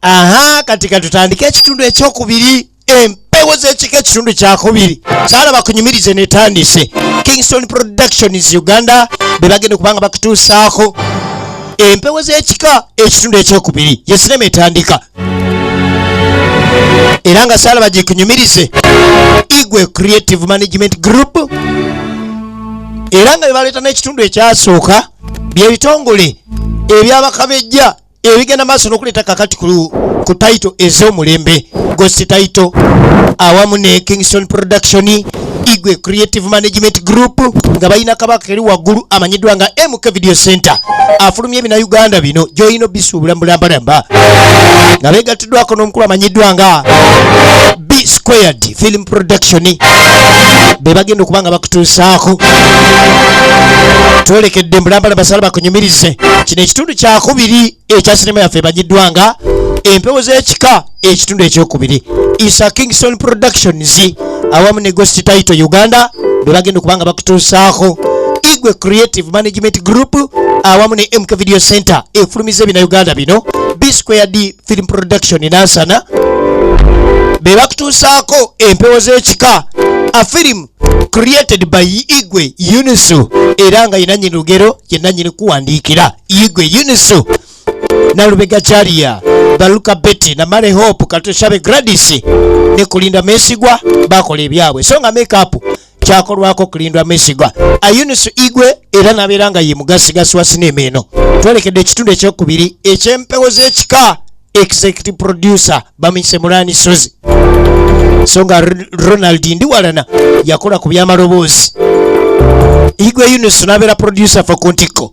aha kati katutandike ekitundu ekyokubiri empewo zekika ekitundu kyakubiri sala bakunyumirize netandise kingston productions uganda bebagenda okubanga bakutuusaako empewo zekika ekitundu ekyokubiri yesinema etandika era nga saalaba gyekunyumirize igwe creative management group era nga bebaleeta n'ekitundu ekyasooka byebitongole ebyabakabejja ebigenda maaso n'okuleeta kakati ku taito ez'omulembe gosi taito awamu ne kingston production igwe creative management group nga balina kabaka eri waggulu amanyiddwa nga mk video center afulumye ebina uganda bino gyolina obisuubula mubulambalamba nga begattiddwako n'omukulu amanyiddwa nga b squared film production be bagenda okuba nga bakutuusaako twerekedde mbulambala basala bakunyumirize kino ekitundu kyakubiri ekya sinema yaffe emanyiddwa nga empewo z'ekika ekitundu ekyokubiri isa kingson productions awamu ne ghost title uganda bwe bagenda okuba nga bakutuusaako igwe creative management group awamu ne mk video center efulumiza ebina uganda bino b square d film production nansana be bakutuusaako empewo z'ekika a film created by igwe unisu era nga yenanyini lugero yenanyini kuwandiikira igwe unisu nalubega jalia baluka betty na male hope katoshabe gradis ne kulinda mesigwa bakola ebyabwe so nga makeup kyakolwako kulindwa mesigwa ayunisu igwe era nabeera nga ye mugasigasi wa sinema eno twerekedde ekitundu ekyokubiri ekyempewo z'ekika executive producer bamuyise mulani sozi so nga R- ronald ndiwalana yakola ku byamaloboozi igwe yunus nabeera producer fa ku ntikko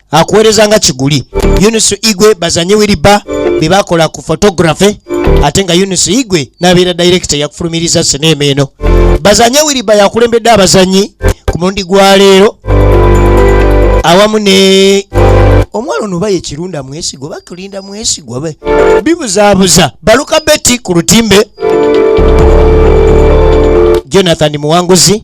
akuweereza nga kiguli yunus igwe bazanye wiriba be bakola ku photography ate nga yunus igwe nabeera director yakufulumiriza sineema eno bazanye wiriba yakulembedde abazanyi ku mulundi gwa leero awamu ne omwana ono baye kirunda mwesigwa bakulinda mwesigwa be bibuzabuza baluka beti ku lutimbe jonathan muwanguzi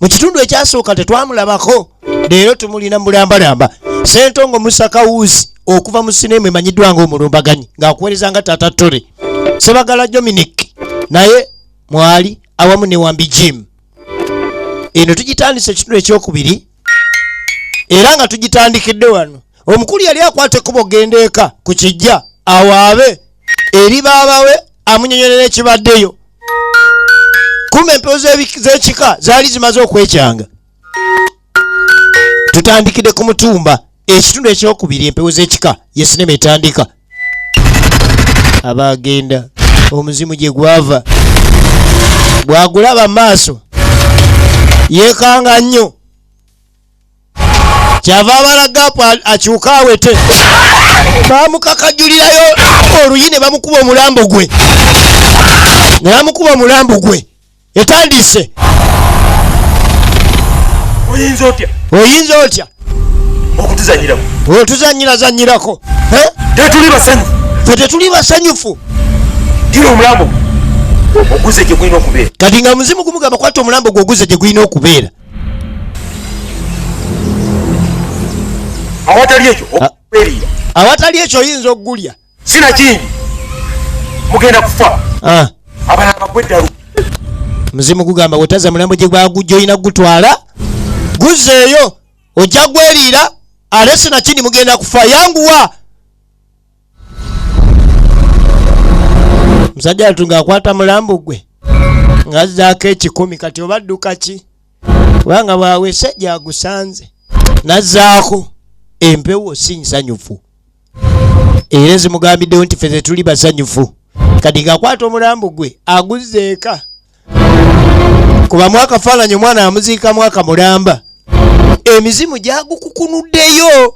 mu kitundu ekyasooka tetwamulabako leero tumulina mulambalamba sentongo musakawuuzi okuva mu sinema emanyiddwa nga omulumbaganyi ng'akuweereza nga tata tore sebagala dominic naye mwali awamu ne wambi jim eno tugitandisa ekitundu ekyokubiri era nga tugitandikidde wano omukulu yali akwata ekkubo genda eka ku kijja awaabe eri baabawe amunyonyolera ekibaddeyo kuma empewo z'ekika zaali zimaze okwekyanga tutandikidde ku mutumba ekitundu ekyokubiri empewo z'ekika yesinema etandika abaagenda omuzimu gye gwava bwagulaba maaso yeekanga nnyo kyava abala gaapu akyuka awete bamukakajulirayo oluyi ne bamukuba omulambo gwe ne bamukuba omulambo gwe etandiise oyinza otya oyinza otya okutuzanyiramu otuzanyirazanyirako tetuli basanyu fe tetuli basanyufu gira omulambo oguze gye gulina okubeera kati nga muzimu gumugamba kwata omulambo gwe oguze gye gulina okubeera awatali ekyo ah. okubeerira awatali ekyo oyinza okugulya sina kingi mugenda kufa ah. abana bagweddalu muzimu gugamba wetaza mulambo gye gwagujja olina kugutwala guzzeeyo ojja gweriira alesi nakindi mugenda kufa yanguwa musajja watu ng'akwata mulambu gwe ng'azzaako ekikumi kati oba dduka ki kubanga bwawese gyagusanze nazzaako empewo si nsanyufu era ezimugambiddewo nti fe zetuli basanyufu kati ng'akwata omulambu gwe aguzza eka kuba mwakafaananyi omwana amuziika mwaka mulamba emizimu gyagukukunuddeyo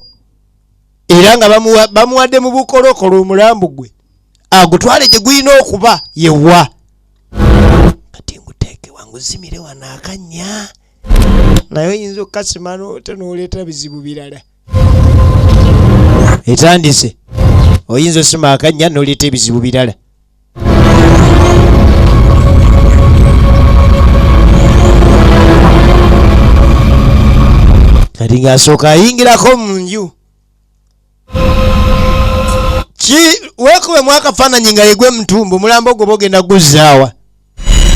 era nga bamuwadde mu bukolokolo omulambu gwe agutwale gye gulina okuba yewa kati nguteeke wanguzimire wano akanya naye oyinza okukasimano te nooleeta bizibu birala etandise oyinza osima akanya noleeta ebizibu birala kati ng'asooka ayingirako mu nju ki weekubemu akafaananyi nga yegwe mutumba omulambo ogwo bogenda guzzaawa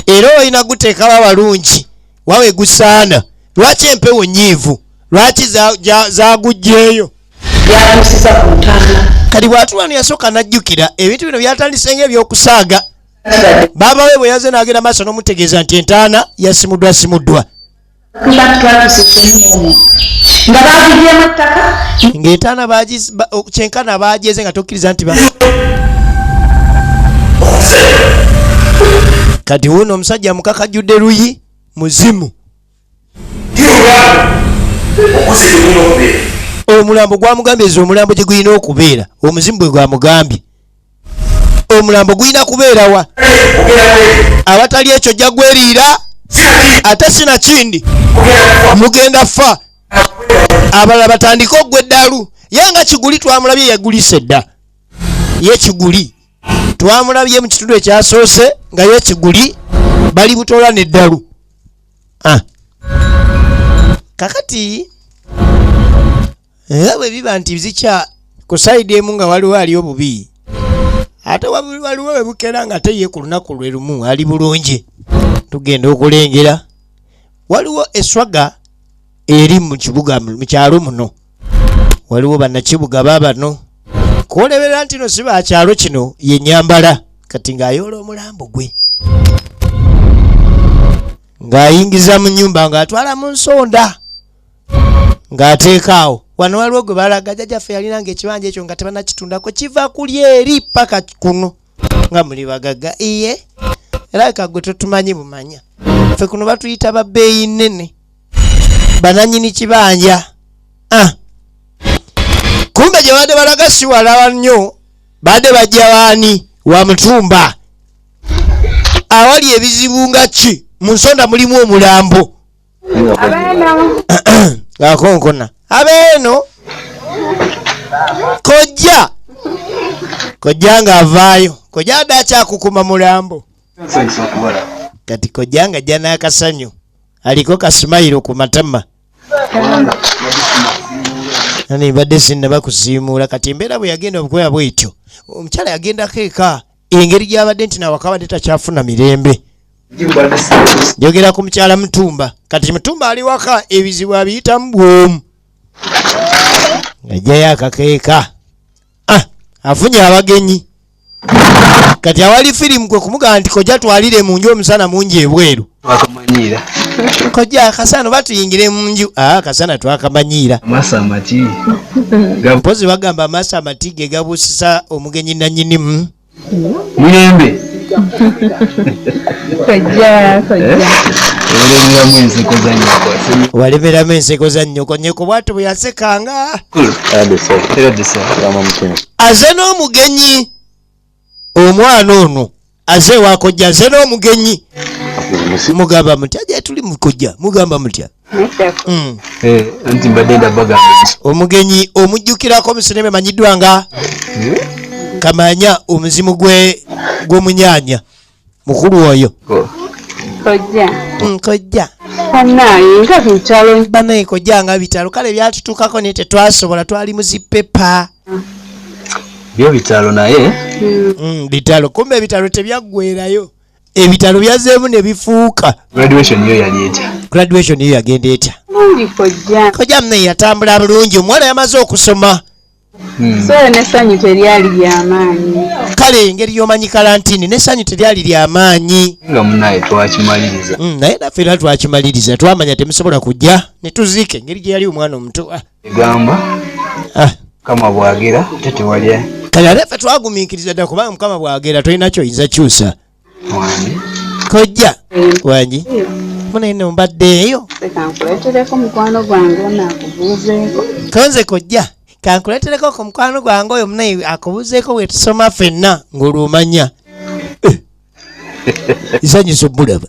era olina guteekawo abalungi wawe gusaana lwaki empewo nyiivu lwaki zagujjeeyo yatusiza ku ntaana kati bwatulwano yasooka najjukira ebintu bino byatandise nga ebyokusaaga baaba we bwe yaze n'agenda maaso n'omutegeeza nti entaana yasimuddwa simuddwa Tubantu twatuse kyenyini nga bagibyemu ettaka ng'etaana kyenkana baagyeze nga tokkiriza nti ba kati wuuno omusajja mukakajjudde luyi muzimu omulambo gwamugambye eza omulambo gye gulina okubeera omuzimu bwe gwamugambye omulambo gulina kubeerawa awatali ekyo jja gweriira ate sinakindi mugenda fa abalala batandike ogwa eddalu ye nga kiguli twamulabye yagulisa edda ye kiguli twamulabye mu kitundu ekyasoose nga ye kiguli bali butoola neddalu ah. kakati era bwe biba nti zikya ku sayidi emu nga waliwo ali obubi ate waliwo we bukera nga ate ye ku lunaku lwe lumu ali bulungi tugenda okulengera waliwo eswaga eri mu kibuga mu kyalo muno waliwo bannakibuga baabano kuwoleberera nti no si ba kyalo kino yenyambala kati ng'ayoola omulambo gwe ng'ayingiza mu nyumba ng'atwala mu nsonda ng'ateekaawo wano waliwo gwe balaga jajaffe yalinanga ekibanja ekyo nga tebanakitundako kiva kuli eri paka kuno nga muli bagaga iye era ka gwe totumanyi bumanya ffe kuno batuyita babbeeyi nnene bananyini kibanja ah. kumbe gye baadde balaga siwalawa nnyo baadde bajja waani wa mutumba awali ebizibu nga ki mu nsonda mulimu omulambo akonkona abeeno kojja kojja nga avaayo kojja adde akyakukuma mulambo kati kojja nga jja n'akasanyu aliko kasimayiro ku matama ani mbadde sinna bakusiimuula kati embeera bwe yagenda obukwera bwetyo omukyala yagendako eka engeri gyabadde nti nawaka abadde takyafuna mirembe njogera ku mukyala mutumba kati mutumba ali waka ebizibu abiyitamu bwomu ngajjayo akakeeka ah, afunye abagenyi kati awali firimu kwe kumugamba nti kojja twalire mu nju omusana mungi ebweru twakamanyiira kojja akasana oba tuyingire mu nju ah, akasana twakamanyiira amaaso amati mpozi bagamba amaaso amati ge gabuusisa omugenyi nanyinimu mirembe walemeramu enseko za nnyoko nyeko bwati bwe yasekanga aze n'omugenyi omwana ono aze ewakojja nze n'omugenyi mugamba mutya gyetuli mukojja mugamba mutya hmm. eh, omugenyi omujjukirako musinema emanyiddwa nga hmm? kamanya omuzimu gwe gwomunyanya mukulu oyo kojja mm, kojja banaye kojja nga bitalo kale byatutukako naye tetwasobola twali muzipepa byo bitalo naye mm. Mm, bitalo kumbe ebitalo tebyaggwerayo ebitalo byazeemu ne bifuuka graduation yo yagenda etya kojja mnaye yatambula bulungi omuwala yamaze okusoma Hmm. so nesanyu teryali lyamaanyi kale engeri yomanyi kalantini nesanyu teryali lyamaanyi nga munaye twakimaliriza hmm, naye naffe era twakimaliriza twamanya temusobola kujja netuziika engeri gyeyali omwana omuto ah. egamba ah. kama bwagera tetewalya kale ate ffe twagumiikiriza dda kubanga mukama bwagera tolina kyoyinza kyusa kojja wangi muna ino mbaddeeyo konze kojja kankuletereko ku mukwano gwange oyo munaye akubuzeeko wetusoma fenna ng'olwomanya eh. isanyusa obulaba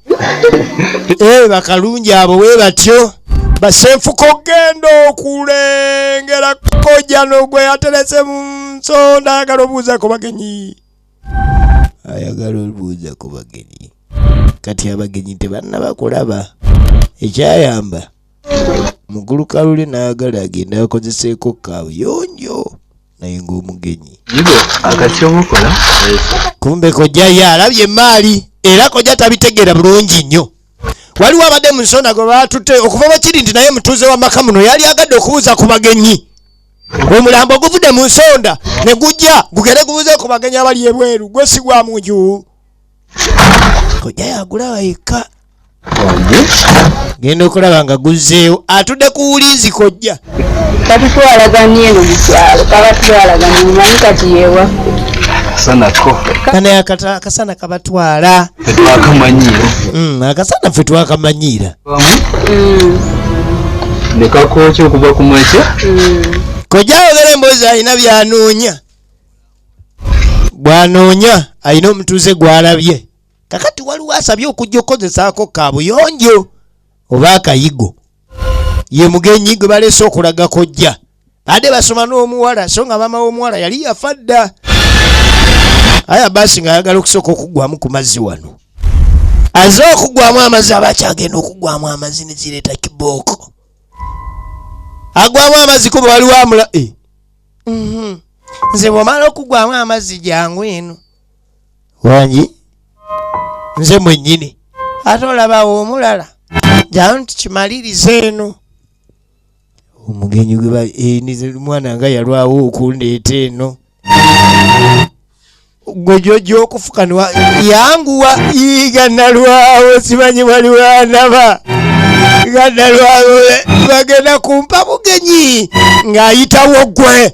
ee eh, bakalungi abo we batyo basenfuka okugenda okulengera kojano gwe yaterese mu nsonda ayagala obuuza ku bagenyi ayagala obuuza ku bagenyi kati abagenyi tebanna bakulaba ekyayamba mugulukalule n'ayagala agenda akozeseeko kabuyonjo naye ng'omugenyi kumbe kojja ye alabye emaali era kojja tabitegeera bulungi nnyo waliwo abadde mu nsonda gwe baatutte okuva bakiri nti naye mutuuze wa maka muno yali agadde okubuuza ku bagenyi omulambo oguvudde mu nsonda ne gujja gugende gubuuze ku bagenyi abali ebweru gwe si gwa munju kojja yagulawa yekka genda okulaba nga guzzeewo atudde ku wulinzi kojja katutwalaganye eno mukyalo kabatwalaganye mumanyi kati yewa akasana kabatwala mm, akasana fe twakamanyiira mm. nekakoki okuva ku makya mm. kojja ayogera emboozi alina byanoonya bwanoonya alina omutuuze gwalabye kakati waliwo asabye okujja okukozesaako kabuyonjo oba akayigo ye mugenyi gwe baleese okulaga kojja baade basoma n'omuwala so nga maama w'omuwala yali yafa dda aya baasi ng'ayagala okusooka okuggwamu ku mazzi wano aze okuggwamu amazzi aba akyagenda okuggwamu amazzi ne zireeta kibooko agwamu amazzi kuba waliwo amula eh. mhm. nze bwomala okuggwamu amazzi jangu eno wangi nze mwenyini ate olabawo omulala jayo nti kimaliriza eno omugenyi gwemwana eh, nga yalwawo okundeeta eno gwe jojo okufuka yanguwa iga nalwawo simanyi waliwanaba nga nalwawo bagenda kumpa bugenyi ng'ayitawo gwe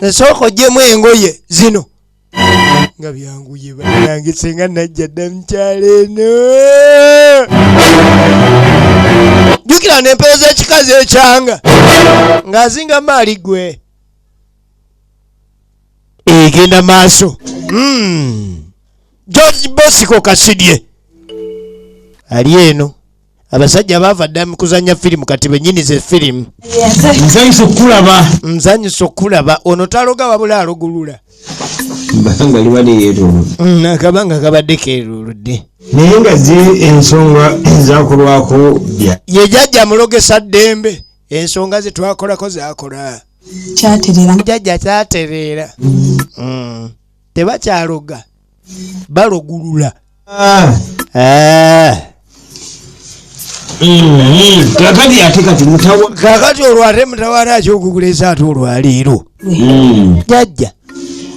esooka ojjemu engoye zino nga byanguye banange senga najja dda mukyalo eno jukira nempero z'ekikazi ekyanga ng'azinga maali gwe egenda maaso hmm. george bosiko kasidye ali eno abasajja baava ddala mu kuzannya firimu kati bennyini ze firimu nzanyisa okukulaba nzanyisa okukulaba ono taloga wabula alugulula akabanga libadde yeeruludde mm, akabanga kabadde keeruludde naye nga zi ensonga ezakolwako bya ye jajja mulogesa ddembe ensonga ze twakolako zakola kyatereera jajja kyatereera mm. tebakyaloga balogulula ah. eh. mm-hmm. kakati ate kati mutawa kakati olwo ate mutawala akyokukulesa ate olwaleero mm. jajja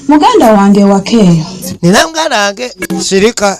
muganda wange wakeeyo nina muganda wange sirika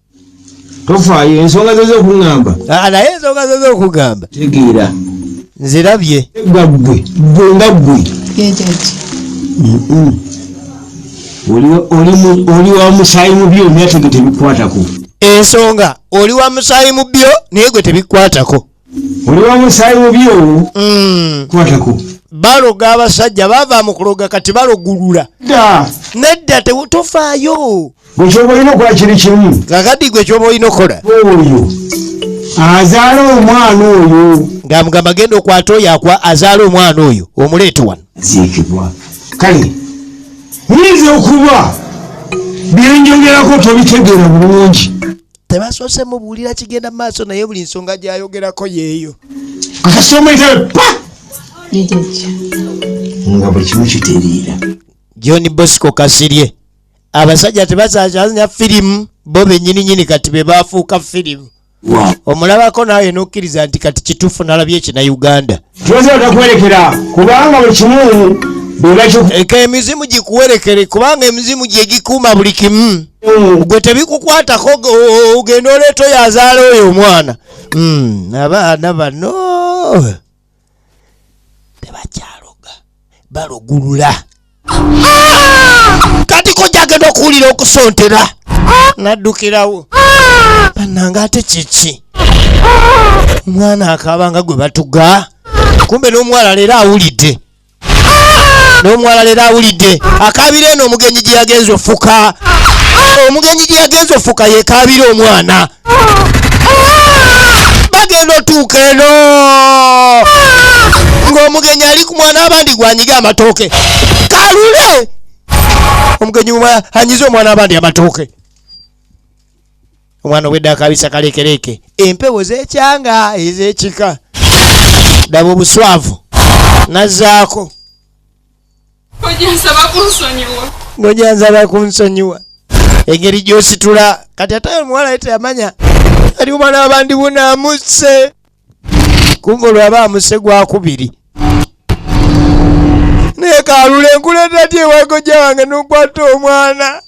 tofaayo ensonga zo zokugamba ah, naye ensonga zo zokugamba tegeera nzirabye egga ggwe ggwe nga ggwe oli wa musaayi mu byo naye tege tebikwatako ensonga oli wa musaayi mu byo naye gwe tebikwatako oli wa musaayi mubi owo mm. kwatako baloga abasajja bava mu kuloga kati balogulula nedda tofaayo gwekyoba olina okukola kiri kimu kakati gwe kyoba olina okukola oyo azaala omwana oyo ngaamugamba genda okwata oyo akwa azaala omwana oyo omuleete wano ziikibwa kale nyinza okuba byenjogerako tobitegeera bulungi tebasoose mubuulira kigenda mu maaso naye buli nsonga gyayogerako yeeyo nga buli kimu kitereera john bosco kasirye abasajja tebasasanya firimu bo benyininyini kati be bafuuka firimu omulabako naawe nokkiriza nti kati kituufu nalabye ekina uganda Tuzirata kuwerekera kubanga buli kimu eka emizimu gikuwerekere kubanga emizimu gyegikuuma buli kimu mm. gwe tebikukwatako ogenda oleeta oyo azaala oyo omwana mm. abaana bano tebakyaloga balugulula kati ko gyagenda okuwulira okusontera naddukirawo banange ate kiki omwana akaaba nga gwe batuga kumbe n'omuwala leero awulidde n'omuwala leero awulidde akaabira eno omugenyi gye yagenza ofuka omugenyi gye yagenza ofuka yekaabira omwana bagenda otuuka eno ng'omugenyi ali ku mwana abandi gwanyiga amatooke kalule omugenyi anyize omwana abandi amatooke omwana obwedde akabisa kaleekereeke empewo zekyanga ezekika daba obuswavu nazaako ngojansaba kunsonyiwa engeri gyositula kati ate omuwala ye teyamanya ali omwana wabandi buna amusse kumva olwaba amusse gwakubiri naye kalula enkuleta ti ewagoja wange nokwata omwana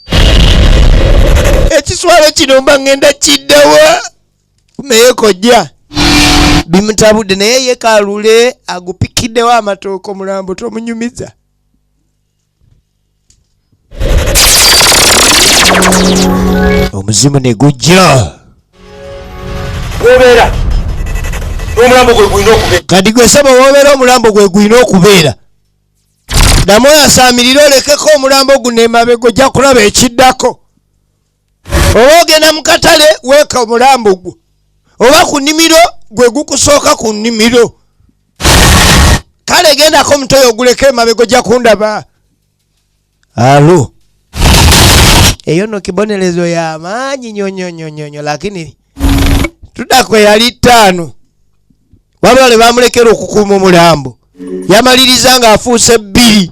ekiswalo kino mba ngenda kiddawa naye kojja bimutabudde naye ye kalule agupikiddewo amatooka omulambo tomunyumiza omuzimu ne gujja obeera omulambo gwe gulina okubeera kati gwe saba wobeera omulambo gwe gulina okubeera damu oyasaamirire olekeko omulambo guno emabega ojja kulaba ekiddako oba ogenda mu katale weeka omulambo gwo oba ku nnimiro gwe gukusooka ku nnimiro kale gendako omutoyo oguleka emabega ojja kundaba alo eyo no kibonerezo ya maanyi nyonyonyonyonyo lakini tuda kwe yali ttaano wabula ne bamulekera okukuuma omulambo yamaliriza ng'afuuse bbiri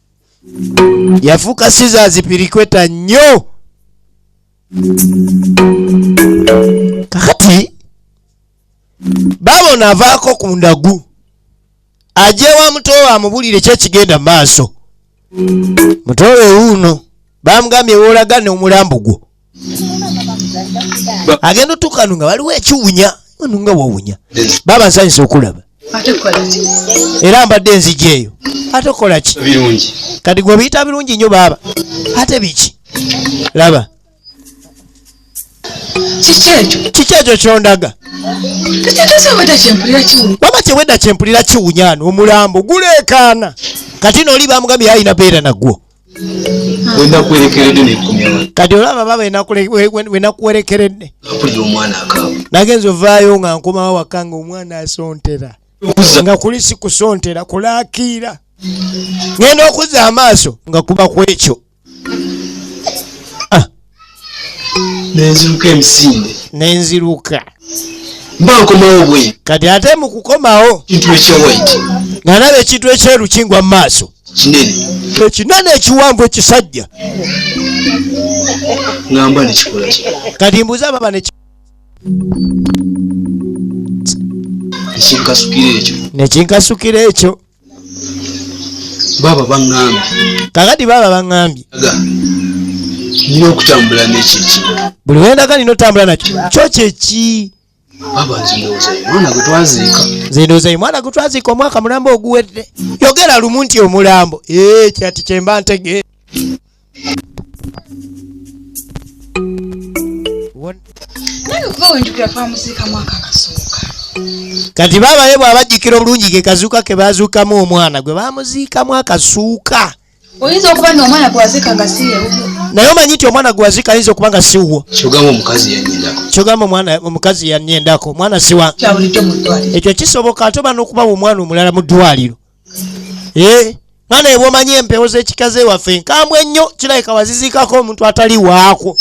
yafuuka scissors pirikweta nnyo kakati baabona avaako ku ndagu ajewa mutowe amubulire kyekigenda maaso mutowe wuuno bamugambye wolaga nomulambo gwo agenda otuuka nu nga waliwo ekiwunya nu nga wawunya baba nsanyusa okulaba era mbadde enzigi eyo ate okola ki kati gwe obiyita birungi nnyo baaba ate biki laba kiki ekyo kyondaga baba kyewedda kyempulira kiwunyana omulambo guleekaana kati nooli bamugambye yalina beera nagwo kati olaba baba wenakuwerekeredde nagenzi ovaayo nga nkomawo waka nga omwana asontera nga kuli sikusontera kulakiira ngenda okuzza amaaso nga kuba kwekyo nenziruka emisinde nenziruka mba nkomawo bwe kati ate mu kukomawo kintu ekyewaiti nga naba ekintu ekyeru kingwa mu maaso kinene ekinene ekiwanvu ekisajja ngamba nekikola kati mbuza baba ne nekinkasukira ekyo nekinkasukira ekyo baaba baŋŋambye kakati baaba baŋŋambye nina okutambula n'ekyo ekimu buli wendaga nina otambula nakyo kyo kyeki baaba nzindoozayo mwana gwe twaziika nzindoozayo mwana gwe twaziika omwaka mulamba oguwedde yogera lumu nti omulambo ee eh, kyati kyemba ntegeera kati babaye bwabajjikira obulungi ke kazuuka ke bazuukamu omwana gwe bamuziikamu akasuuka oyinza okuba nti omwana gwazika nga si naye omanyi nti omwana gwazika ayinza okuba nga si wuwo kyogamba omukazi yanyendako kyogamba omwana omukazi yanyendako omwana siwa ekyo kisoboka ate oba n'okubawa omwana omulala mu ddwaliro eh, nga naye bwomanyi empewo z'ekika ze waffe nkambwe ennyo kirabika waziziikako omuntu atali waakwo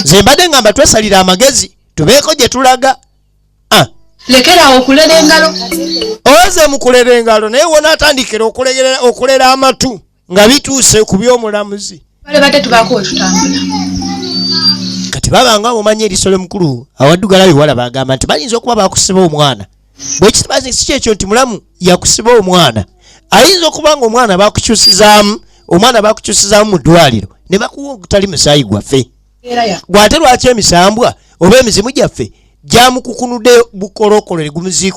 ze mbadde ngamba twesalira amagezi tubeeko gye tulaga ah. lekerawo okulera engalo oze mukulera engalo naye wona atandikira okulera amatu nga bituuse ku by'omulamuzi balibadde tubaako wetutambula kati babanga mumanyi eriso lyomukulu awaddugala biwala bagamba nti bayinza okuba bakusiba omwana bwekitibazi si kyekyo nti mulamu yakusiba omwana ayinza okuba nga omwana bakukyusizaamu omwana bakukyusizaamu mu ddwaliro ne bakuwa ogutali musaayi gwaffe gwate lwaki emisambwa oba emizimu gyaffe gyamukukunude bukolookolo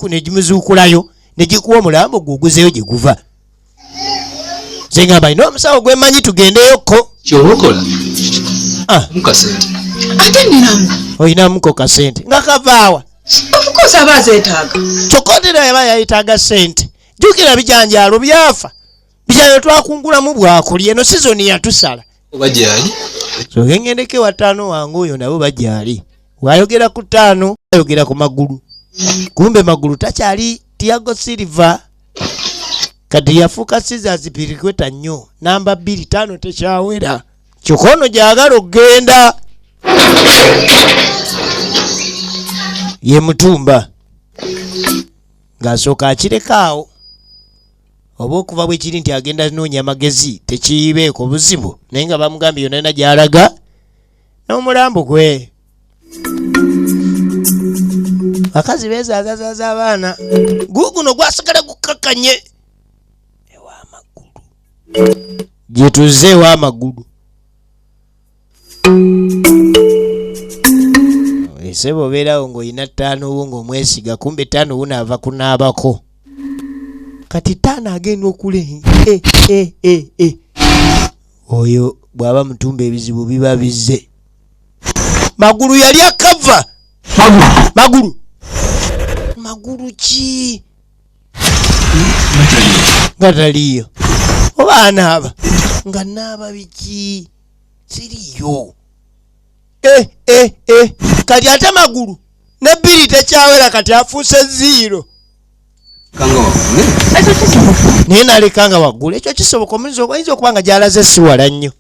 negimuziikulayo ne gikuwa omulambo gwe oguzeeyo gye guva nze ngamba ina omusawo gwemanyi tugendeyokko kyobokola ah. mukasente ate ninamu olinamuko kasente nga kavaawa ofcourse aba azetaaga kyokka otera yaba yayetaaga sente jukira bijanjaalo byafa bijanjalo twakungulamu bwakulya eno sizoni yatusala oba gyali sogengendeke wa taano wange oyo nabo bagyali wayogera ku taano ayogera ku magulu kumbe magulu takyali tiago silver kati yafuuka scissors pirikweta nnyo namba bbiri taano tekyawera kyokka ono gyagala okugenda ye mutumba ng'asooka akirekaawo oba okuva bwe kiri nti agenda noonya amagezi tekiyibeeko buzibu naye nga bamugambye yonana gy'alaga n'omulambu gwe bakazi bezazazaza abaana guguno gwasigala gukakanye ewamagulu gyetuze ewamagulu esebo obeerawo ng'olina ttaano wo ng'omwesiga kumbe ttaano wo naava kunaabako kati ttaano agenda okulenga eh, eh, eh, oyo bwaba mutumba ebizibu biba bizze magulu yali akava magulu magulu ki nga taliyo oba anaaba nga naaba biki siriyo eh, eh, eh. kati ate magulu nebbiri tekyawera kati afuuse ziiro naye naleka nga waggulu ekyo kisoboka omuyiza oyinza okuba nga gyalaze siwala nnyo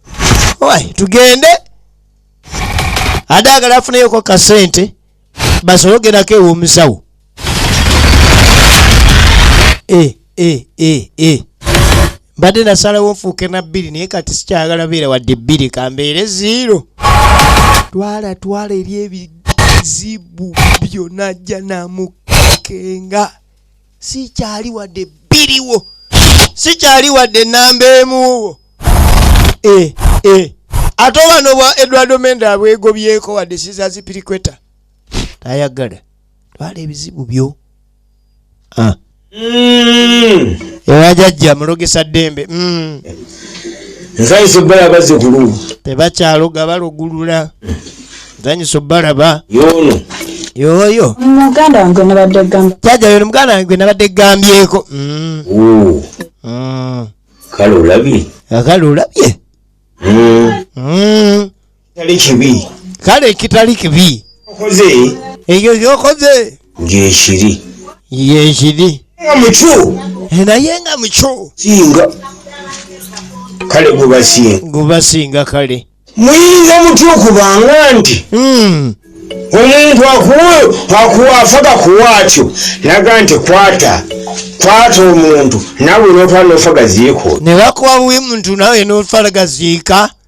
wy tugende adaagala afuneyoko kasente basobole ogendako ew'omusawo e e e e mbadde nasalawo nfuuke na bbiri naye kati sikyagala beera wadde bbiri kambeere ziiro twala twala eri ebizibu byona jja namukenga sikyali wadde bbiriwo sikyali wadde namba emuwo e, e. ate obano bwa edwardo menda abwegobyeko wadde sizazipirikweta tayagala twala ebizibu byo ah. mm. era jajja mulogesa ddembe mm. nsanyusa obbala bazikulu tebakyaloga balugulula nsanyusa obbalaba yono yoyo muganda wange nabadde gamba jaja yono muganda wange nabadde gambyeko mm. mm. kale olabye kale olabye mm. mm. kitali kibi kale kitali kibi okoze ekyo kyokoze ngekiri yekiri nga mukyu eh, naye nga mukyu singa kale gubasinga gubasinga kale muyinza mutya okubanga nti hmm. omuntu akuwa afaka kuwa atyo naga nti kwata kwata omuntu nawe notwala nofagaziiko nebakuwa buwi muntu nawe notwala gaziika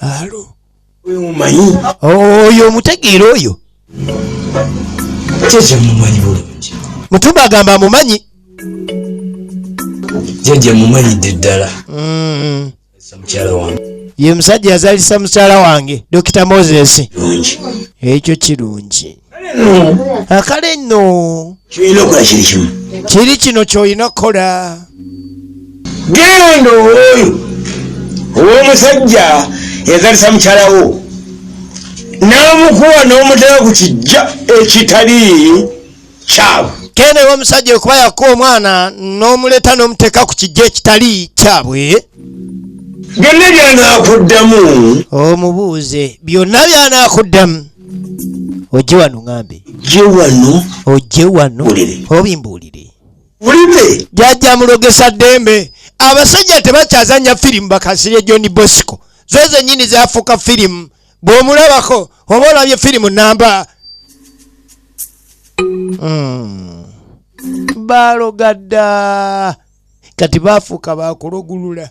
alo oyo omutegeera oyo kyekyemumanyi bulungi mutumba agamba amumanyi jeje mumanyidde ddala mm. ye musajja yazalisa mukyala wange dokita moses ekyo kirungi akale nno kyoyina okola kiri kimu kiri kino kyoyina okukola genda owoyo owomusajja yazalisa mukyalawo namukuwa nomutera ku kijja ekitali kyabwe kenda ewa omusajja okuba yakuwa omwana nomuleeta nomuteeka ku kijja ekitali kyabwe byonna byanakuddamu omubuuze byonna byanakuddamu ojje wano ŋambe je wano ojje wano obimbuulire ulime jajja mulogesa ddembe abasajja tebakyazanya firimu bakasirye john bosco zoze nyini zafuuka firimu bwomulabako oba olabye firimu namba hmm. balogadda kati bafuuka bakulogulula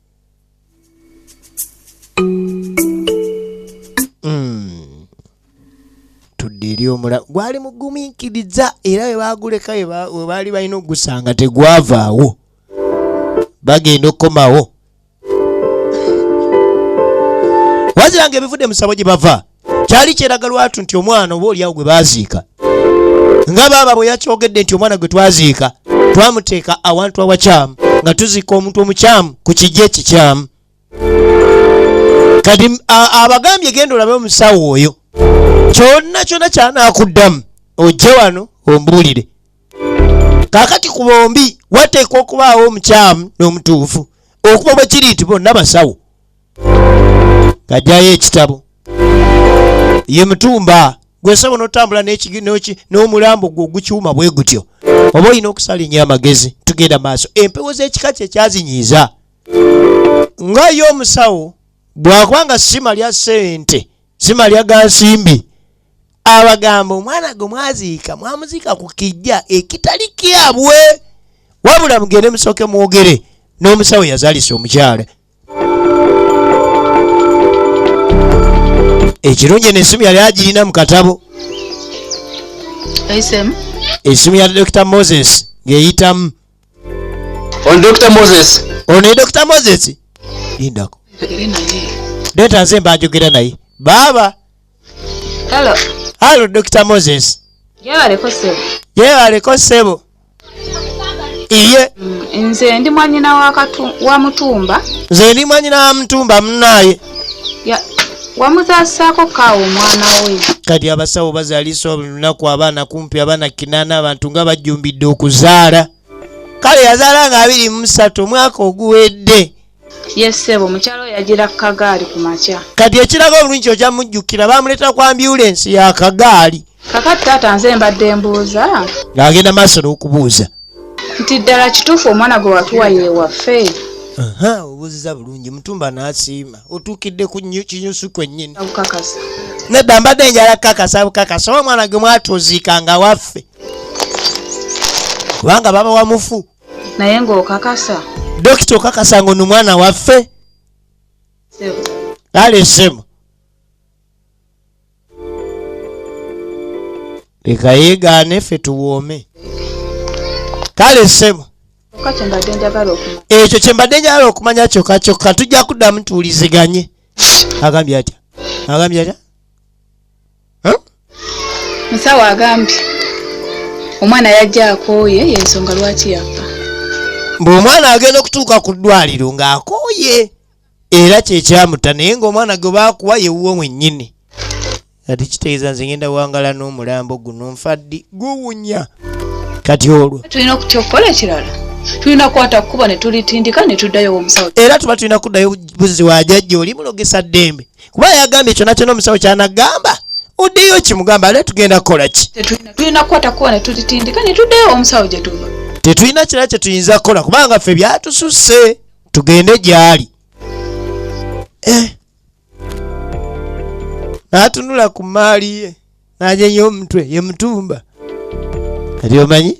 Mm. tudde eri omulamu gwali mugumiikiriza era we baaguleka we baali balina okugusanga tegwavaawo bagenda okukomawo waziranga ebivudde musabo gye bava kyali kyeraga lwatu nti omwana oba oliawo gwe baziika nga baaba bwe yakyogedde nti omwana gwe twaziika twamuteeka awantu awakyamu nga tuziika omuntu omukyamu ku kijja ekikyamu kati abagambye genda olabe omusawo oyo kyonna kyonna kyanakuddamu ojje wano ombuulire kakati ku bombi wateekwa okubaawo omukyamu n'omutuufu okuba bwe kiri nti bonna basawo ng'ajjayo ekitabo ye mutumba gwe nsaba onotambula n'omulambo gwe ogukiwuma bwe gutyo oba olina okusala enyo amagezi tugenda maaso empewo z'ekika kye kyazinyiiza nga ye omusawo bwakuba nga sima lya ssente sima lya ga nsimbi abagamba omwana gwe mwaziika mwamuziika ku kijja ekitali kyabwe wabula mugende musooke mwogere n'omusawo yazalisa omukyala ekirungi eno esimu yali agirina mu katabo esimu ya dr moses ng'eyitamu on dr moses ono ye dr moses lindako leeta nze mbanjogera naye baaba Hello. Hello Dr. Moses. Yaleko sebo. Yaleko sebo. Iye. Mm, nze ndi mwanyina wa katu wa mutumba. Nze ndi mwanyina wa mutumba mnaye. Ya wamuzasaako kaawo omwana we kati abasawo bazalisa olunaku abaana kumpi abaana kinaana abantu nga bajjumbidde okuzaala kale yazaala nga abiri mumusatu omwaka oguwedde Yes sebo mukyalo yajira kagaali ku makya. Kati ekiraga obulungi oja mujjukira bamuleta kwa ambulance ya kagaali. Kakati tata nze mbadde mbuuza. Ngagenda maso n'okubuuza. Nti ddala kituufu omwana gwe watuwa ye waffe. Aha obuziza bulungi mutumba n'asiima otuukidde ku kinyusu kwennyini. Abukakasa. Nedda mbadde njala kukakasa bukakasa oba omwana gwe mwatuuziika nga waffe. Kubanga baba wamufu. naye ngaokakasa dokita okakasa nga ono mwana waffe lalesemu leka yegaane ffe tuwoome kale sebo ekyo kyembadde njagala okumanya kyokka kyokka tujja kuddamu tuwuliziganye agambye atya agambye atya musawo agambye omwana yajja akooye yensonga lwaki yafa mbu omwana agenda okutuuka ku ddwaliro ng'akooye era kyekyamuta naye ng'omwana gwe baakuwa yewuwo mwennyini kati kitegeeza nze ngenda wangala n'omulambo guno nfaddi guwunya kati olwo tulina okutya okukola ekirala tulina kukwata kukuba ne tulitindika ne tuddayo omusawo era tuba tulina kuddayo buzzi wa jajja oli mulogesa ddembe kuba yagambye kyona kyona omusawo kyanagamba oddeyo kimugamba ale tugenda kukola ki tulina kukwata kuba netutitindika netuddeyo omusawo gyetuva tetulina kirala kyetuyinza kukola kubanga ffe byatususse tugende gyali eh. natunula ku maali ye anyenye omutwe ye mutumba kati omanyi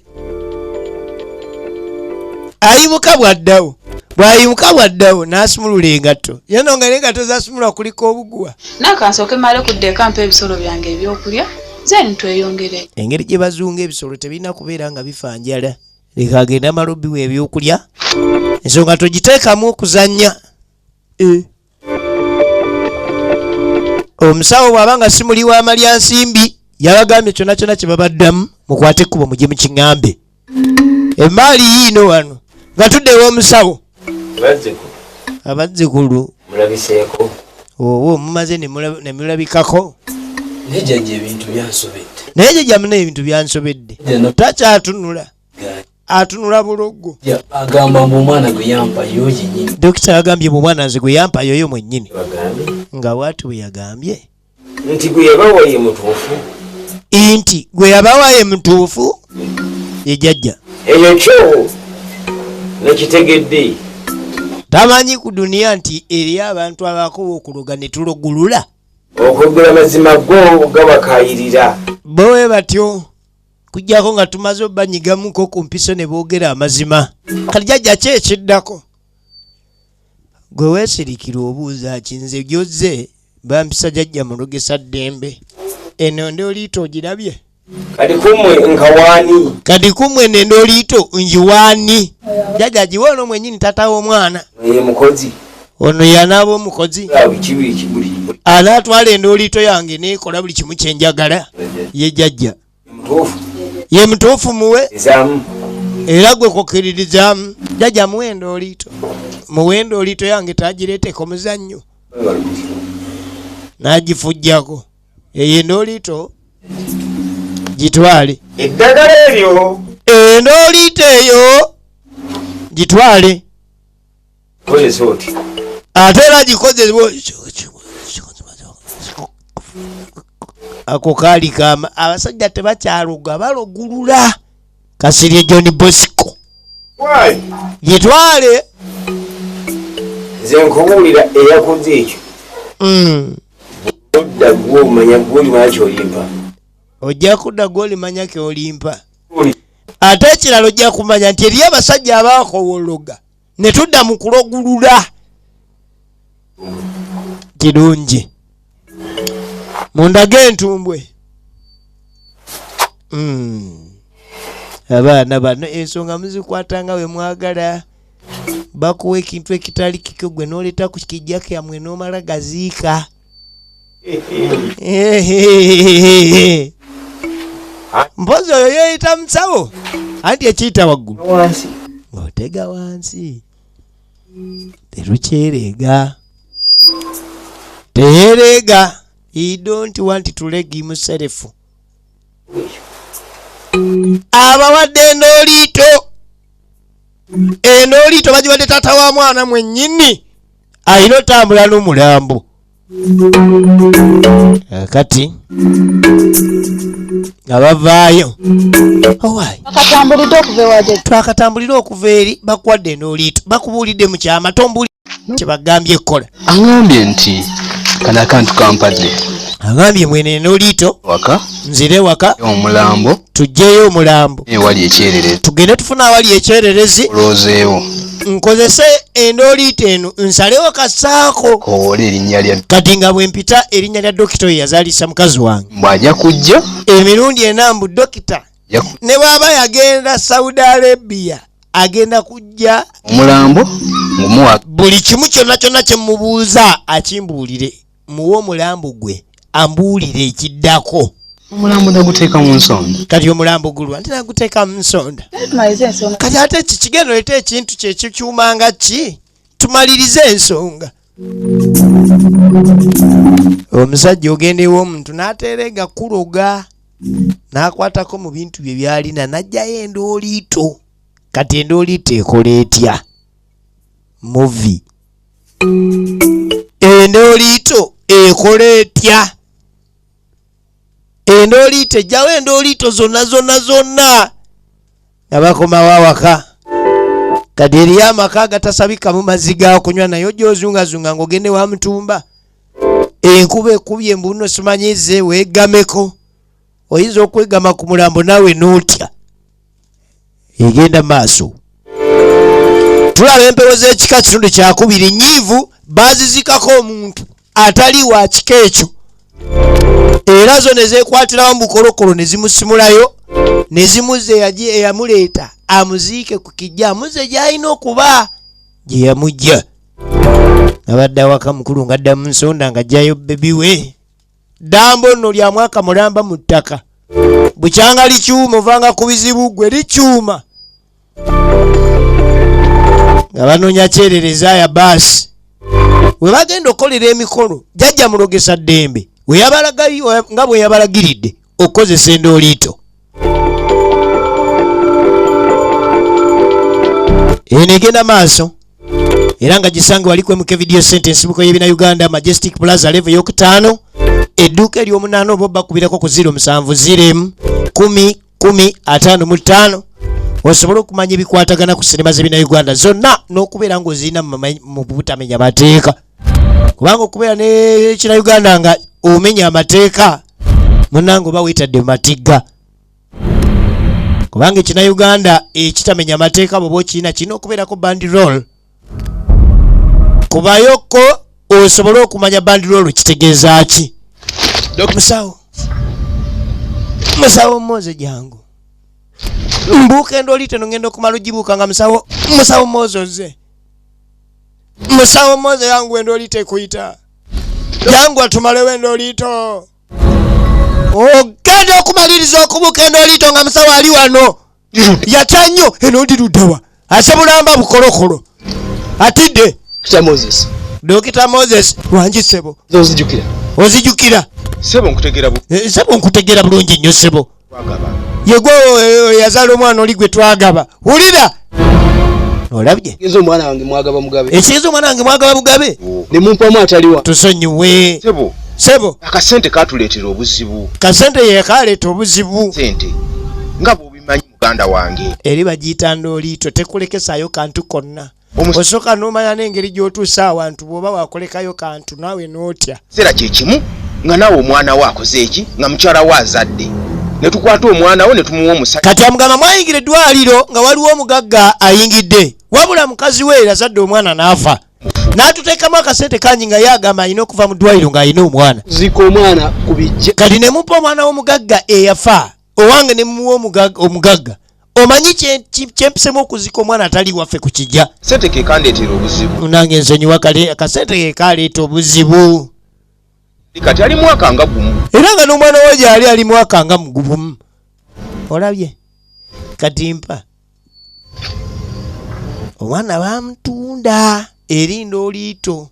ayimuka bwaddawo bwayimuka bwaddawo n'asumulula engatto yeno nga nengatto zasumulwa kulika obuguwa nakansooke male kudda ekampa ebisolo byange ebyokulya zen tweyongere engeri gye bazunga ebisolo tebirina kubeera nga bifa njala leka agende amala obiwa ebyokulya ensonga togiteekamu okuzannya eh. omusawo bwaba nga si muli wa malya nsimbi yabagambye kyona kyona kyebabaddamu mukwate ekkubo mugye mu kiŋambe emaali yiino wano nga tudde ewomusawo abazzikulu mulabiseeko owo mumaze nemulabikako naye jajja muna ebintu byansobedde takyatunula atunula buloggo agamba mbu omwana gwe yampayo yenyini dokita yagambye mu mwana nze gwe yampayo yo mwennyini nga bwati bwe yagambye nti gwe yabawa ye mutuufu nti gwe yabawa ye mutuufu ye jajja eyo kyo nekitegedde tamanyi ku duniya nti eri abantu abakoba okuloga ne tulogulula okwegula mazima go gabakayirira bowe batyo kujjako nga tumaze obanyigamuko ku mpiso ne boogera amazima kati jajja ki ekiddako gwe weesirikira obuuza ki nze gyozze bampisa jajja mulugesa ddembe eno ndi oliita ogirabye kati kumwe nkawaani kati kumwe nende oliito njiwaani jajja giwa ono mwenyini tata w'omwana mukozi ono yanaaba omukozi anaatwala endooliito yange neekola buli kimu kye njagala ye jajja ye mutuufu muwe era gwe kukkiririzaamu jajja muwe endooliito muwe endooliito yange tagireeteko muzannyo n'agifujjako eyo endooliito gitwale eddagala eryo endooliito eyo gitwale Kozesa oti. Ate era gikozesa ako kaali kama abasajja tebakyaloga balogulula kasirye john bosco gitwale nze nkubuulira eyakoze ekyo hmm. odda gwomanya gwolimanya kyolimpa ojja kudda gwolimanya kyolimpa ate ekirala ojja kumanya nti eriyo abasajja abakowologa ne tudda mu kulogulula kirungi mundage entumbwe hmm. abaana bano ensonga muzikwata nga bwe mwagala bakuwa ekintu ekitali kikyo gwe nooleta ku kijja kyamwe n'omala gaziika mpozi oyo yeyita musawo anti ekiyita waggulu ng'otega wansi terukyereega teyereega he don't want to leg himself abawadde endooliito endooliito bagiwadde taata wa mwana mwennyini ayina otambula n'omulambo eh, kati nga bavaayo twakatambulire okuva eri bakuwadde n'oliito bakubuulidde mu kyama tombuli kyebagambye ekkola aambye nti kana kantu kampadde agambye mwene n'oliito waka nzire waka omulambo tujjeyo omulambo ewali ekyererezi tugende tufuna awali ekyererezi oloozeewo nkozese endooliito eno nsalewo kasaako kowoola erinnya lya kati nga bwe mpita erinnya lya dokita oyo yazaalisa mukazi wange bw'aja kujja emirundi ena mbu dokita ne bw'aba yagenda saudi arabia agenda kujja omulambo buli kimu kyonna kyonna kye mubuuza akimbuulire muwe omulambo gwe ambuulire ekiddako omulambo naguteeka mu nsonda kati omulambo gulwa nti naguteeka mu nsonda kati ate kikigenda oleta ekintu kyekikyuma nga ki tumalirize ensonga omusajja ogenda ew'omuntu n'ateera egakuloga n'akwatako mu bintu bye byalina n'ajjayo endooliito kati endooliito ekola etya muvi endooliito ekola etya endooliito ejjawo endooliito zonna zonna zonna nga bakomawo awaka kati eriyo amaka agatasabikamu mazzi gakunywa naye ojja ozungazunga ngaogende wa mutumba enkuba ekubye mbuno simanyize wegameko oyinza okwegama ku mulambo naawe n'otya egenda maaso tulaba empewo z'ekika kitundu kyakubiri nyiivu bazizikako omuntu atali wa kika ekyo era zo ne zeekwatirawo mu bukolokolo ne zimusimulayo ne zimuze eyamuleeta amuziike ku kijja amuze gy'alina okuba gye yamujja abadde awaka mukulu ngadda mu nsonda nga jjayo bebi we dambo nno lya mwaka mulamba mu ttaka bukyanga likyuma ovanga ku bizibu gwe likyuma nga banonya kyerereza ya baasi we bagenda okukolera emikolo jajja mulogesa ddembe nga bwe yabalagiridde okukozesa endooliito eno egenda maaso era nga gisange wali kwemuka evidiyo sente ensibuko y'ebina uganda majestic plaza leve eyokutaano edduuka eryomunaana oba obbakubirako ku ziro musanvu ziremu kumi kumi ataano mu ttaano osobole okumanya ebikwatagana ku sinema z'ebina uganda zonna n'okubeera ng'ozirina mu butamenya mateeka kubanga okubeera nekina uganda nga omenya amateeka munange oba wetadde matigga kubanga ekina uganda ekitamenya amateeka bwoba okirina kirina okubeerako bandirol kubayoko osobole okumanya bandirol kitegeeza ki musawo musawo moze jangu mbuuka endooli teno ngenda okumala ogibuuka nga musawo musawo moze oze musawo moze yangu endo lite kuita yangu atumale wendo lito ogenda okumaliriza okubuka endo lito nga musawo ali wano yatya nnyo eno ndi luddawa ase bulamba bukolokolo atidde dokita moses wangi sebo ozijukira sebo nkutegera eh, bulungi nnyo sebo yegwe yazala omwana oli gwe twagaba wulira olabye ekigezo omwana wange mwagaba mugabe ekigezo omwana wange mwagaba mugabe nemumpamu ataliwa tusonyiwe sebo sebo akasente katuleetera obuzibu kasente yekaleeta obuzibu sente nga bwobimanyi muganda wange eri bagiyita ndooliito tekulekesaayo kantu konna osooka n'omanya n'engeri gy'otuusa awantu bw'oba wakolekayo kantu naawe n'otya kiseera kye kimu nga naawe omwana wo akoze eki nga mukyala wo azadde ne tukwata omwana wo ne tumuwa omusajja kati amugamba mwayingira eddwaliro nga waliwo omugagga ayingidde wabula mukazi we yazadde omwana n'afa n'atuteekamu akasente kangi nga ye agamba alina okuva mu ddwaliro ng'alina omwana zika omwana ku bijja kati ne mupa omwana w'omugagga eyafa owange ne muwa omugagga omanyi kyempisemu okuzika omwana atali waffe ku kijja sente kekandeetera obuzibu nange nsonyiwa kale akasente kekaleeta obuzibu kati ali mwaka nga gumu era nga n'omwana wa gyali ali mwaka nga mugubumu olabye kati mpa omwana bamutunda eri ndooliito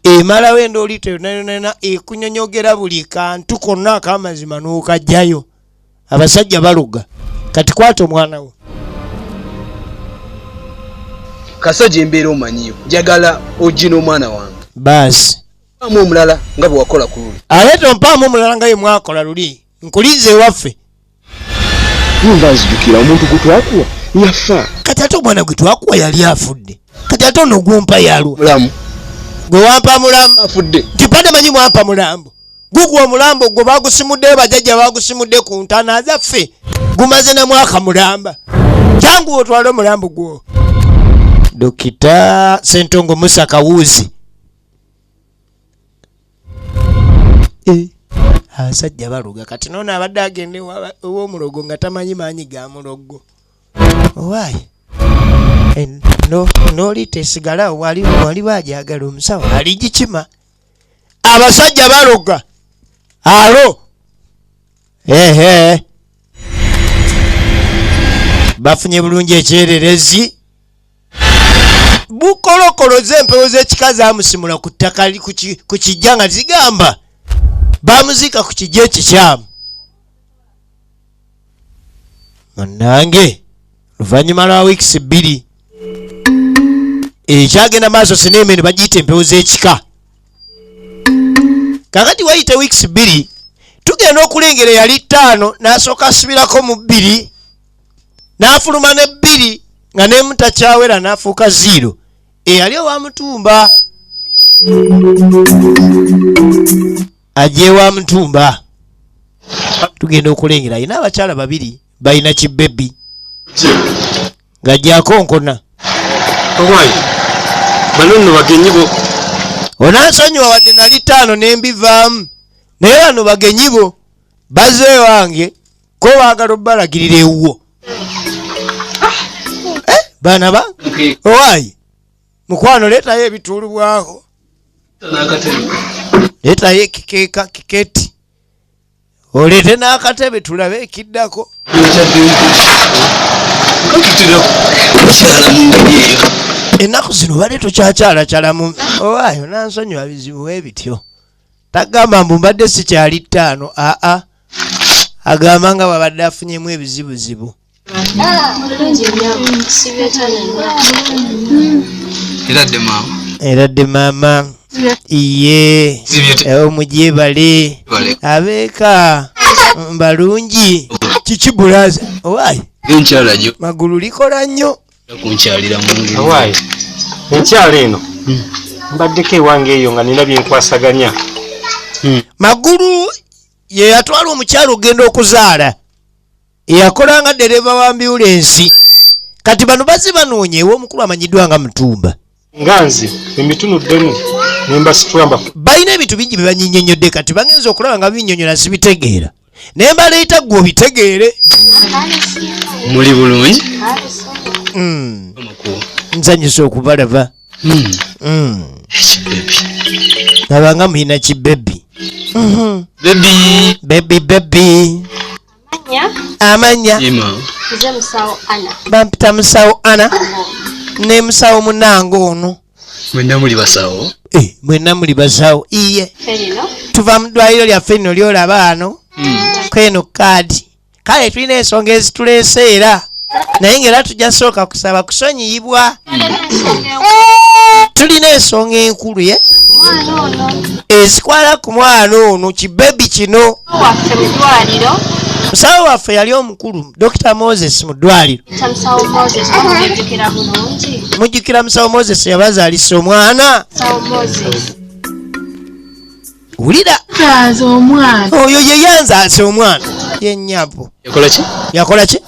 emalawo endooliito yonayonana ekunyonyogera buli kantu konna akamazima n'okajjayo abasajja baluga kati kwata omwana wo kasajja embeera omanyiyo njagala ogina omwana wange baasi amu omulala nga bwewakola ku luli ate tompaamu omulala nga ye mwakola luli nkulinze ewaffe nyumba nzijukira omuntu gutwakuwa yafa kati ate omwana gwe twakuwa yali afudde kati ate ono gumpa yalwa mulamu gwe wampa mulamu afudde nti bade manyi mwampa mulambo gugwa omulambo gwe bagusimudde bajajja bagusimudde ku ntana zaffe gumaze na mwaka mulamba jangu otwale omulambo gwo dokita sentongo musa kawuzi Eh, abasajja baluga kati nono abadde agenda ewomulogo nga tamanyi maanyi ga mulogo owaayi eh, nolita esigala wali bajagala omusawo aligikima abasajja baluga alo ehe bafunye bulungi ekyererezi bukolokoloza empewo z'ekika zamusimula ku ttaka ku kijja nga zigamba bamuziika ku kijja ekikyamu munange luvannyuma lwa wiikisi bbiri ekyagenda maaso sineemene bagiyita empewo z'ekika kakati wayite wiikisi bbiri tugenda okulengera eyali ttaano n'asooka asibirako mu bbiri n'afuluma ne bbiri nga nemu takyawera n'afuuka ziiro eyali owa mutumba ajja ewa mutumba tugenda okulengera ayina abakyala babiri balina kibebi nga jakonkona onansonyiwa wadde nali taano nembivaamu naye bano bagenyibo baze wange ko baagala obalagirira ewuwo eh, baana ba owaayi mukwano leetayo ebituulubwako leetayo ekikeeka kiketi oleete n'akatebe tulabe ekiddako ennaku zino bale tukyakyalakyalamu owaayo nansonyiwa bizibu webityo tagamba mbu mbadde sikyali ttaano aa ah, ah. agamba nga bwabadde afunyemu ebizibuzibu era dde maama iye eh, omugyebale abeeka mbalungi kiki bulaza owaayi magulu likola nnyo kunkyalira mu ngeri awaayi enkyalo eno hmm. mbaddeko ewange eyo nga nina byenkwasaganya hmm. magulu ye yatwala omukyalo okugenda okuzaala eyakolanga dereva wa mbiwulensi kati bano bazi banoonyeewo omukulu amanyiddwa nga mutumba nga nze emitunuddemu nembasitulamba balina ebintu bingi byebanyinyonyodde kati bagenza okulaba nga binyonyola sibitegeera naye mbaleeta gwe obitegeere muli bulungi hmm. nzanyisa okubalaba hmm. hmm. abanga mulina kibebi bebi bebi amanya bampita musawo ana ne musawo munange ono mwenna muli basawo eh, mwenna muli basawo iye tuva mu ddwaliro lyaffe lino lyolaba ano hmm. kweno kaadi kale tulina ensonga ezituleese era naye ngaera tujja sooka kusaba kusonyiyibwa tulina ensonga enkulu ye ezikwala ku mwana ono kibebi kino musawo waffe yali omukulu dr moses mu ddwaliro mujjukira musawo moses yabazaalisa omwana wulira nzaaza omwana oyo ye yanzaaza omwana yenyabo yakola ki yakola ki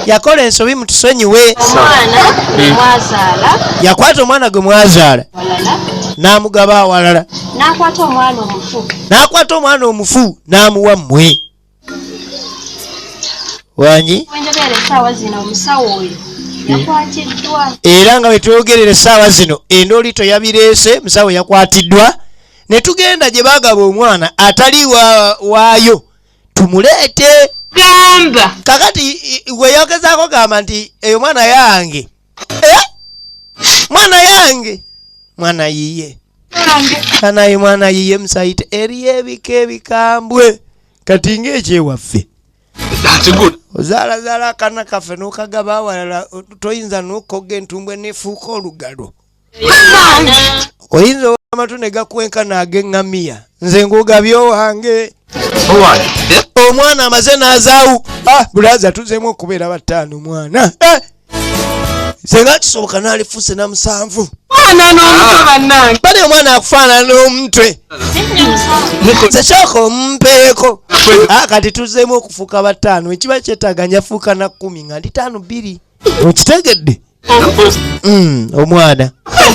yakola ensobi mutusonyiwe omwana hmm. mwazaala yakwata omwana gwe mwazaala n'amugaba awalala n'akwata omwana omufu n'akwata omwana omufu n'amuwa mmwe wangi era nga wetwogerera esaawa zino endoolito yabireese musawo yakwatiddwa ne tugenda gye bagaba omwana atali waayo tumuleete gamba kakati weyogezaako gamba nti eyo mwana yange eh? mwana yange mwana yiye anaye mwana yiye musayite eriyo ebika ebikambwe kati ngaekyewaffe ozaalazala akana kaffe nokagaba awalala toyinza nokoga entumbwe nefuuka olugalo oyinza owa amatu ne gakwenkana ag'eŋŋamiya nze ngugabye owange omwana amaze n'azaawu ah, bulaza tuzeemu okubeera bataano mwana eh! senga kisoboka n'alifuuse na musanvu bali omwana akufaanana n'omutwe zekyaka omumpeeko ah, kati tuzeemu okufuuka bataano ekiba kyetaaga njafuuka na kkumi nga ndi taano bbiri okitegedde Mm, omwana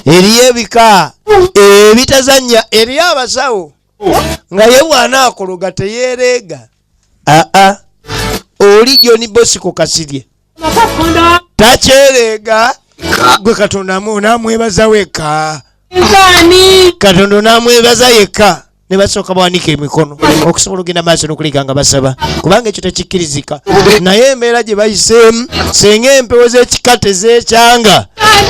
eriyo ebika ebitazanya eriyo abasawo nga ye bwana akologa teyereega aa oli joni bosiko kasirye takyereega gwe katonda namwebaza weka katonda namwebaza yekka ne basooka bawanika emikono okusobola okugenda maaso n'okuliga nga basaba kubanga ekyo tekikkirizika naye embeera gye bayiseemu singa empewo z'ekika tezeekyanga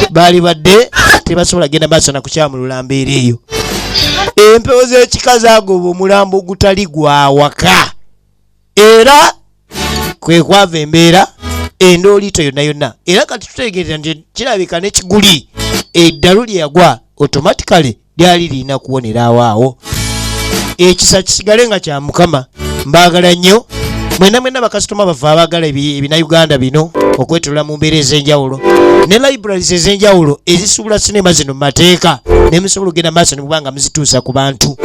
baali badde tebasobola kugenda maaso na kukyamulula mbeera eyo empewo z'ekika zaagoba omulambo ogutali gwawaka era kwe kwava embeera endooliito yonna yonna era kati tutegeerera nti kirabika ne kiguli eddalu lye yagwa automatically lyali lirina kuwonera awaawo ekisa kisigale nga kya mukama mbaagala nnyo mwena mwena bakasitoma bava abagala ebinauganda bino okwetolola mu mbeera ez'enjawulo ne libraries ez'enjawulo ezisuubula sinema zino mu mateeka nemusobola okugenda maaso okuba nga muzituusa ku bantu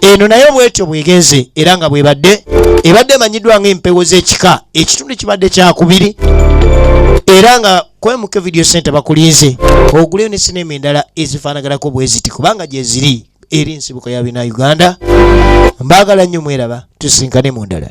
eno naye bwetyo bwegenze era nga bwebadde ebadde emanyiddwa nga empewo z'ekika ekitundu kibadde kyakubiri era nga kwemuke video center bakulinze oguleyo ne sinema endala ezifaanaganako bweziti kubanga gyeziri eri nsibuko ya bina uganda mbaagala nnyo mweraba tusinkane mu ndala